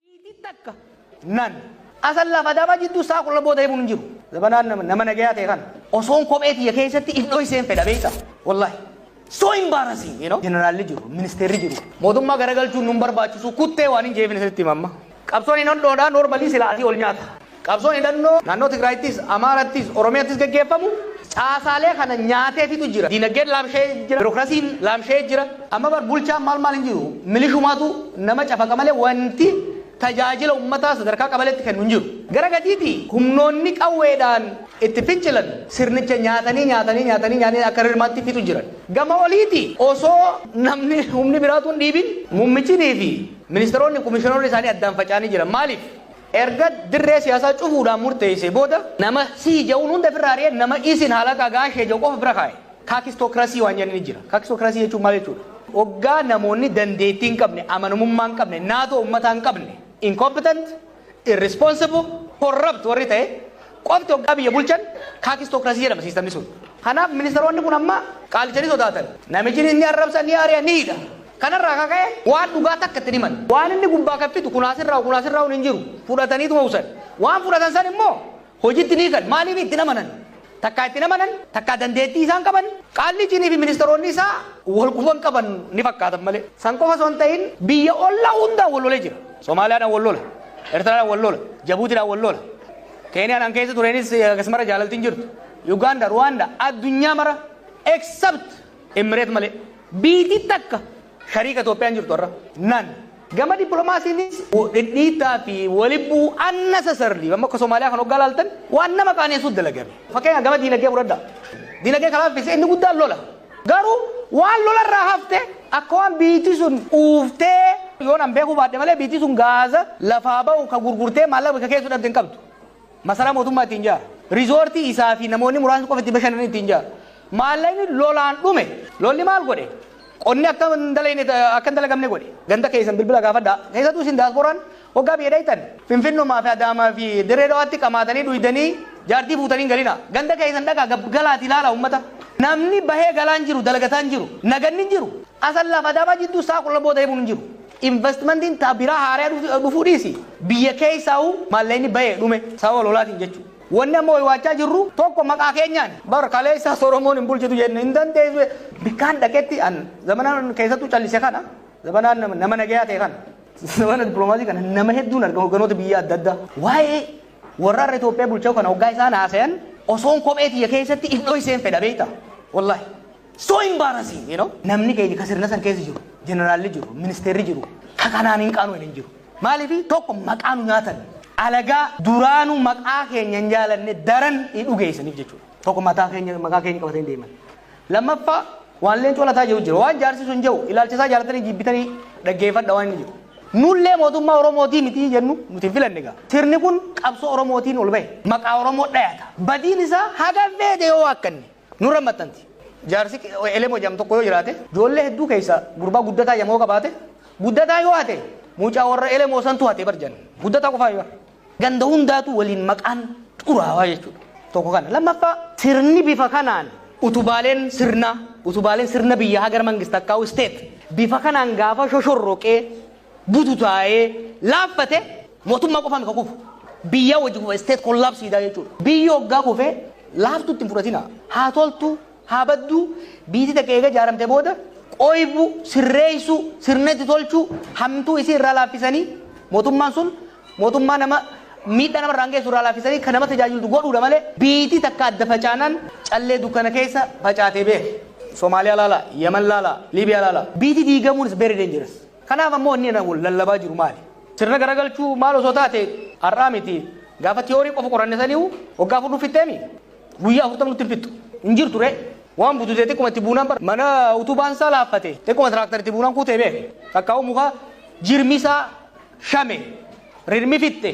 Iitii takka nan. Asallaaf Adaamaa jidduu sa'a 12 booda himuun hin jiru. Zabanaan nama nama nagayaa ta'e kana osoon kophee tiyya keessatti if dhoyseen fedha beeyta. Wallahi. So embarrassing, you know. Jeneraalli jiru, ministeerri jiru. Mootummaa garagalchuun nun barbaachisu kuttee waanin jeefin isinitti hima amma. Qabsoon hin hodhoodha, normally silaa asii ol nyaata. Qabsoon hidhannoo naannoo Tigraayittis, Amaarattis, Oromiyattis geggeeffamu caasaalee kana nyaatee fixu jira. Diinagdeen laamsha'ee jira. Birokrasiin laamsha'ee jira. Amma bar bulchaan maal maal hin jiru. Milishumaatu nama cafaqa malee wanti tajaajila ummataa sadarkaa qabaleetti kennu hin jiru. Gara gadiitii humnoonni qawweedhaan itti fincilan sirnicha nyaatanii nyaatanii nyaatanii nyaatanii akka rirmaatti fixu jiran. Gama oliitii osoo namni humni biraa utuu hin dhiibin muummichiniifi ministeeronni, komishinaroonni isaanii addaan faca'anii jiran. Maaliif? Erga dirree siyaasaa cufuudhaan murteessee booda nama sii ja'uun hunda ofirraa ari'ee nama isin halakaa gaashee ja'u qofa bira kaa'e. Kaakistokrasii waan jedhan ni jira. Kaakistokrasii jechuun maal jechuudha? Oggaa namoonni dandeettii hin qabne, amanamummaa hin qabne, naatoo ummataa hin qabne, incompetent, irresponsible, corrupt warri ta'e, qofti hoggaa biyya bulchan kaakistookirasii jedhama siistamni sun. Kanaaf ministeeronni kun amma qaalicha ni sodaatan. Namichi ni arrabsa, ni ari'a, ni hidha. Kanarraa kan ka'e waan dhugaa takka itti hin himan. Waan inni gubbaa kan fidu kun asirraa kun asirraa hin jiru. Fudhataniituma usan. Waan fudhatan san immoo hojitti ni hiikan. Maaliif itti hin amanan. Takkaa itti hin amanan, takkaa dandeettii isaan qaban, qaallichiinii fi ministeeronni isaa wal quban qaban ni fakkaatan malee. San qofa osoo hin ta'in biyya ollaa hundaan wal lolee jira. Somaaliyaadhaan wal lola, Ertiraadhaan wal lola, Jabuutiidhaan wal lola. Keeniyaan an keessa tureenis akkasumara jaalalti hin jirtu. Uganda, Rwanda, addunyaa mara except Emmireet malee. Biitii takka shariika Itoophiyaa hin jirtu har'a. Nan. Gama dippiloomaasiinis dhidhiittaa fi walibbuu unnecessarily amma akka Somaaliyaa kan hoggaa laaltan waan nama qaaneessuut dalagame. Fakkeenya gama diinagdee fudhadhaa. Diinagdee kan laaffise inni guddaan lola. Garuu waan lola irraa hafte akka waan biitti sun uuftee yoon an beekuu baadhe malee biitti sun gaaza lafaa ba'u ka gurgurtee maallaqa bakka keessu dhabde hin qabdu. Masaraa mootummaa ittiin jaara. Rizoortii isaa fi namoonni muraasni qofa itti bashannan ittiin jaara. Maallaqni lolaan dhume lolli maal godhe? Qonni akka hin dalagne akka hin dalagamne godhe. Ganda keessan bilbila gaafadhaa. Keessattuu isin daasbooraan Hoggaa biyya dhayxan Finfinnumaa fi Adaamaa fi Dirree Dhawaatti qamaatanii dhuydanii jaartii fuutanii hin galinaa. Ganda keessan dhaqaa gab galaatii laalaa ummata. Namni bahee galaa hin jiru, dalagataa hin jiru. Naganni hin jiru. Asallaa fi Adaamaa jidduu sa'a 12 booda deemuun hin jiru. Investmentiin ta biraa haaraya dhufu- dhufuu dhiisi. Biyya keessaahuu maallaqni bahee dhume sababa lolaatiin jechuudha. Wanni amma waywaachaa jirru tokko maqaa keenyaan bar kaleessaas Oromoon hin bulchitu jenne hin dandeessu. Bikkaan dhaqetti an zamanaan keessattuu callise kana zamanaan nama- nama nagayaa ta'e kana. Mana dippiloomaasii kana nama hedduun argama hogganoota biyya adda addaa. Waa'ee warraarra Itoophiyaa bulchaa kana hoggaa isaan haasayan osoon kophee tiyya keessatti if dhoyseen fedha beekta. Wallaahi. So embarrassing, you know? Namni keenya ka sirna san keessa jiru, jeneraalli jiru, ministeerri jiru, ka kanaan hin qaanuu hin jiru. Maaliif tokko maqaa nu nyaatan. Alagaa duraanu maqaa keenya hin jaalanne daran dhugeessaniif jechuudha. Tokko mataa keenya maqaa keenya qabatanii deeman. Lammaffaa, waan leencoo lataa jedhu jira. Waan jaarsi sun jedhu ilaalcha isaa jaalatanii jibbitanii dhaggeeffadha waan inni jedhu. Nullee mootummaa Oromootii mitii jennu nuti hin filanne gaa. Sirni kun qabsoo Oromootiin ol bahe. Maqaa Oromoo dhayata. Badiin isaa haga feete yoo waakkanne nurra maxxanti. Jaarsi Elemoo jedhamu tokko yoo jiraate ijoollee hedduu keessaa gurbaa guddataa jedhamu yoo qabaate guddataa yoo hate mucaa warra Elemoo santu hate bar jedhan. Guddataa qofaa yoo Ganda hundaatu waliin maqaan xuraawaa jechuudha. Tokko kana. Lammaffaa sirni bifa kanaan utubaaleen sirnaa, utubaaleen sirna biyya hagar mangist akkaa'u state bifa kanaan gaafa shoshorroqee bututaa'ee laaffate mootummaa qofaan ka kufu. Biyyaa wajji kufa state kollaabsiidhaa jechuudha. Biyyi hoggaa kufee laaftuutti hin fudhatina. Haa toltu haa baddu, biiti takka eega jaaramte booda, qoybu, sirreeysu, sirna itti tolchu, hamtuu isii irraa laaffisanii, mootummaan sun mootummaa nama miidhaa nama irraan geessu irraa laaffisanii ka nama tajaajiltu godhuudha malee, biiti takka adda facaanaan callee dukkana keessa facaate beeki. Somalia laala, Yemen laala, Libya laala. Biiti diigamuun is very dangerous. Kanaaf ammoo inni ana wal lallabaa jiru maali? Sirna garagalchuu maal osoo taate har'aa miti gaafa theory qofa qoranne saniihu waggaa afur nuuf fixxeemi? Guyyaa afurtama nutti hin fixxu. Hin jirtu ree. Waan bututee xiqquma itti buunaan bara. Mana utubaan isaa laaffate. Xiqquma tiraaktar itti buunaan kuutee beeke. Takkaa'uu muka jirmi isaa shame. Rirmi fixxe.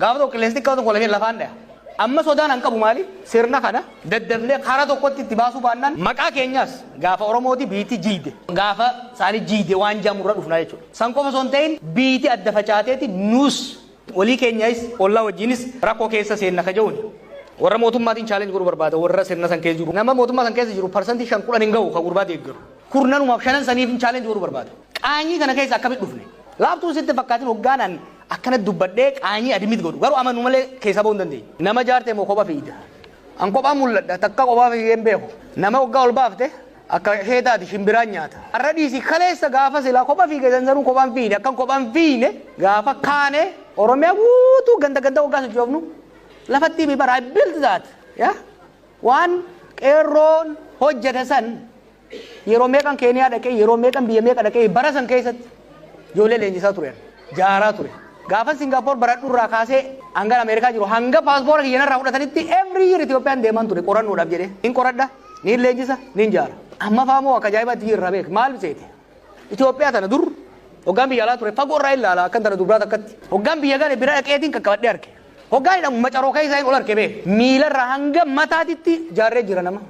Gaafa tokko qilleensi xiqqaa tokko lafeen lafaan dhaya. Amma sodaan an qabu maali? Sirna kana daddafnee karaa tokkotti itti baasuu baannaan maqaa keenyaas gaafa Oromooti biitti jiide. Gaafa isaanii jiide waan jaamurra dhufnaa jechuudha. San qofa osoo hin ta'in biitti adda facaateeti nuus Walii keenyais, ollaa wajjiinis rakkoo keessa seenna ka ja'uuni. Warra mootummaatiin challenge godhuu barbaada, warra sirna san keessa jiru. Nama mootummaa san keessa jiru percent 5, 10 hin gahu ka gurbaa deeggaru. Kurnanumaaf, shanan saniifin challenge godhuu barbaada. Qaanyii kana keessa akkamitti dhufne? Laaftuun sitti hin fakkaatin hoggaan an akkanatti dubbadhee qaanyii admit godhu. Garuu amanuu malee keessaa bahuu hin dandeenye. Nama jaarte moo kopha fiigda? An kophaan mul'adha, takka kophaa fiigee hin beeku. Nama hoggaa ol baafte, Akka keetaati shimbiraan nyaata. Arra dhiisi kaleessa gaafa silaa kopha fiige zanzaruu kophaan fiine akkan kophaan fiine gaafa kaane Oromiyaa guutuu ganda ganda waggaa sochoofnu lafattii mi bara I built that ya waan qeerroon hojjete san yeroo meeqan keeniyaa dhaqee yeroo meeqan biyya meeqa dhaqee bara san keessatti ijoollee leenjisaa tureera jaaraa ture gaafa Singapore baradhu irraa kaasee hangan Ameerikaa jiru hanga paaspoora kiyyanarraa fudhatanitti every year Itoophiyaan deeman ture qorannoodhaaf jedhee hin qoradha Niin leenjisa, niin jaara. Amma faa moo akka ajaa'ibaatti jirra beek. Maal seete? Itoophiyaa tana dur hoggaan biyya alaa ture fagoo irraa ilaala akkan tana dubraa takkatti. Hoggaan biyya gale bira dhaqeetiin qaqqabadhee arke. Hoggaan hidhamu macaroo keessaa hin ol arke bee. Miilarraa hanga mataatitti jaarree jira nama.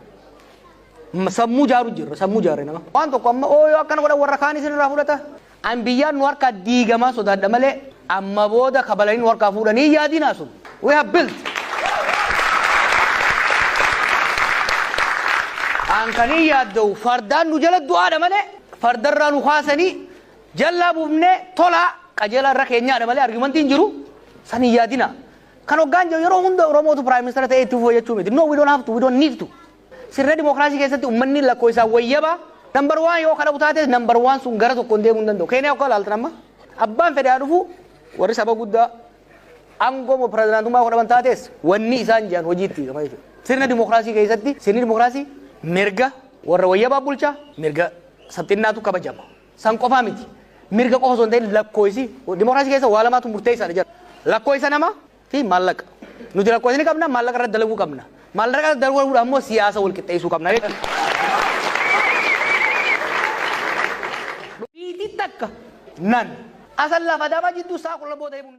Sammuu jaaru jirra sammuu jaarree nama. Waan tokko amma ooyoo akkana godhan warra kaanis irraa fudhata. An biyyaan nu harkaa diigamaa sodaadha malee amma booda kabalanii nu harkaa fuudhanii hin yaadinaa sun. We have built. An kan hin yaadda'u fardaan nu jala du'aadha malee fardarraa nu kaasanii jallaa buufnee tolaa qajeelaa irra keenyaadha malee argumentii hin jiru san hin yaadinaa. Kan hoggaan jiru yeroo hunda Oromootu Prime Minister ta'ee itti fufuu jechuu miti. No, we don't have to, we don't need to. Sirna dimokiraasii keessatti ummanni lakkoofsaan wayyaba number one yoo kadhabu taates number one sun gara tokkoon deemuu hin danda'u. Keeniyaa akka ilaaltan amma abbaan fedhaa dhufu warri saba guddaa aangoo moo pirezidaantummaa godhaman taates wanni isaan jiran hojiitti hiikama jechuudha. Sirna dimokiraasii keessatti sirni dimokiraasii mirga warra wayyabaa bulchaa mirga sabxinnaatu kabajama. San qofaa miti. Mirga qofa osoo hin ta'in lakkoofsi dimokiraasii keessa waa lamaatu murteessaadha jedha. Lakkoofsa nama fi maallaqa. Nuti rakkoo isin qabna maallaqa irratti dalaguu qabna. Maallaqa irratti dalaguudhaan immoo siyaasa wal qixxeessuu qabna jechuudha. Biitii takka nan Asallaa fi Adaamaa jidduu sa'a kudha lama booda himuun.